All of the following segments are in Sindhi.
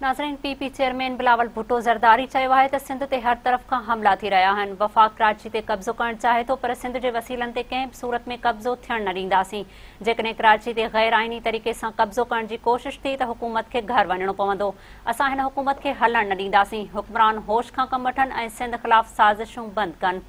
ناظرين P P chairman Bilawal Bhutto Zardari چيو آهي ته سنڌ تي هر طرف کان حملا ٿي رهيا آهن وفاق ڪراچي تي قبضو ڪرڻ چاهي ٿو پر سنڌ جي وسيلن تي ڪنهن به صورت ۾ قبضو ٿيڻ نه ڏينداسين جيڪڏهن ڪراچي تي غير آئيني طريقي سان قبضو ڪرڻ جي ڪوشش ٿي ته حڪومت کي گهر وڃڻو پوندو اسان هن حڪومت کي هلڻ نه ڏينداسين حڪمران هوش کان ڪم وٺن ۽ سنڌ خلاف سازشون بند ڪن.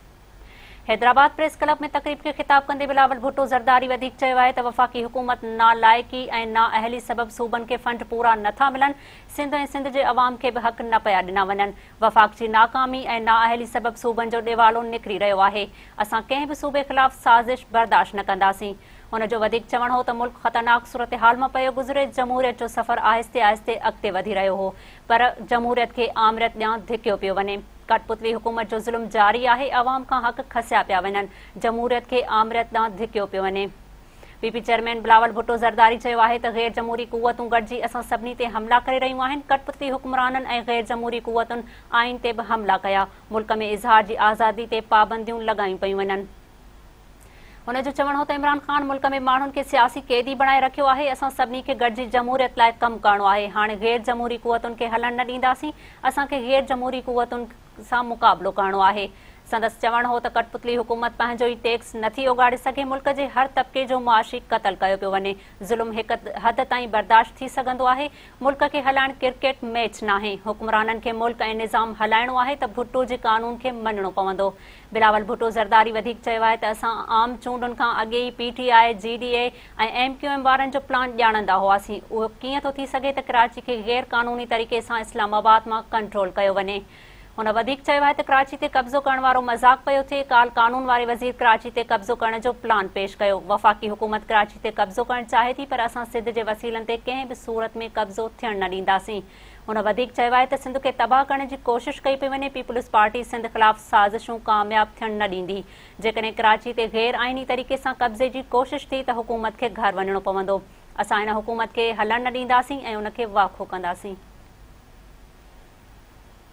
حيدرآباد پريس ڪلب ۾ تقريب کي خطاب ڪندي بلاول ڀٽو زرداري وڌيڪ چيو آهي ته وفاقي حڪومت نالائقي ۽ نااهلي سبب صوبن کي فنڊ پورا نٿا ملن، سنڌ ۽ سنڌ جي عوام کي به حق نه پيا ڏنا وڃن، وفاق جي ناڪامي ۽ نااهلي سبب صوبن جو ڏيوالو نڪري رهيو آهي، اسان ڪنهن به صوبي خلاف سازش برداشت نه ڪنداسين. هن جو وڌيڪ چوڻ هو ته ملڪ خطرناڪ صورتحال مان پيو گذري، جمهوريت جو سفر آهستي آهستي اڳتي وڌي رهيو هو، پر جمهوريت کي آمريت ڏيان ڌڪيو پيو وڃي. ڪٺ پتلي حڪومت جو ظلم جاري آهي، عوام کان حق کسيا پيا وڃن، جمهوريت کي آمريت ڏان ڌڪيو پيو وڃي. P P chairman Bilawal Bhutto Zardari چيو آهي ته غير جمهوري قوتون گڏجي اسان سڀني تي حملا ڪري رهيون آهن، ڪٺ پتلي حڪمرانن ۽ غير جمهوري قوتن آئين تي به حملا ڪيا، ملڪ ۾ اظهار جي آزادي تي پابنديون لڳايون پيون وڃن. هن جو چوڻ هو ته عمران خان ملڪ ۾ ماڻهن کي سياسي قيدي بڻائي رکيو آهي، اسان سڀني کي گڏجي جمهوريت لاء ڪم ڪرڻو آهي، هاڻ غير جمهوري قوتن کي هلڻ نه ڏينداسين، اسان کي غير جمهوري قوتن سان مقابلو ڪرڻو آهي. سندس چوڻ هو ته ڪٽپتلي حڪومت پنهنجو ئي ٽيڪس نٿي اوڳاڙي سگهي، ملڪ جي هر طبقي جو معاشي قتل ڪيو پيو وڃي، ظلم هڪ حد تائين برداشت ٿي سگهندو آهي، ملڪ کي هلائڻ ڪرڪيٽ ميچ ناهي، حڪمرانن کي ملڪ ۽ نظام هلائڻو آهي ته ڀٽو جي قانون کي مڃڻو پوندو، بلاول ڀٽو زرداري وڌيڪ چيو آهي ته اسان عام چونڊن کان اڳي ئي P T I, G D A ۽ M Q M وارن جو پلان ڄاڻندا هئاسين، اهو ڪيئن ٿو ٿي سگهي ته ڪراچي کي غير قانوني طريقي سان اسلام آباد مان ڪنٽرول ڪيو وڃي. هن وڌيڪ چيو آهي ته ڪراچي تي قبضو ڪرڻ وارو مذاق پيو ٿئي، ڪالهه قانون واري وزير ڪراچي تي قبضو ڪرڻ جو پلان پيش ڪيو، وفاقي حڪومت ڪراچي تي قبضو ڪرڻ چاهي ٿي پر اسان سڌ جي وسيلن تي ڪنهن به صورت ۾ قبضو ٿيڻ نه ڏينداسين. هن وڌيڪ چيو آهي ته سنڌ کي تباهه ڪرڻ جي ڪوشش ڪئي پئي وڃي، پيپلز پارٽي سنڌ خلاف سازشون ڪامياب ٿيڻ نه ڏيندي، جيڪڏهن ڪراچي تي غير آئيني طريقي سان قبضي جي ڪوشش ٿي ته حڪومت کي گهر وڃڻو پوندو، اسان هن حڪومت کي هلڻ نه ڏينداسين ۽ ان کي واکو ڪنداسين.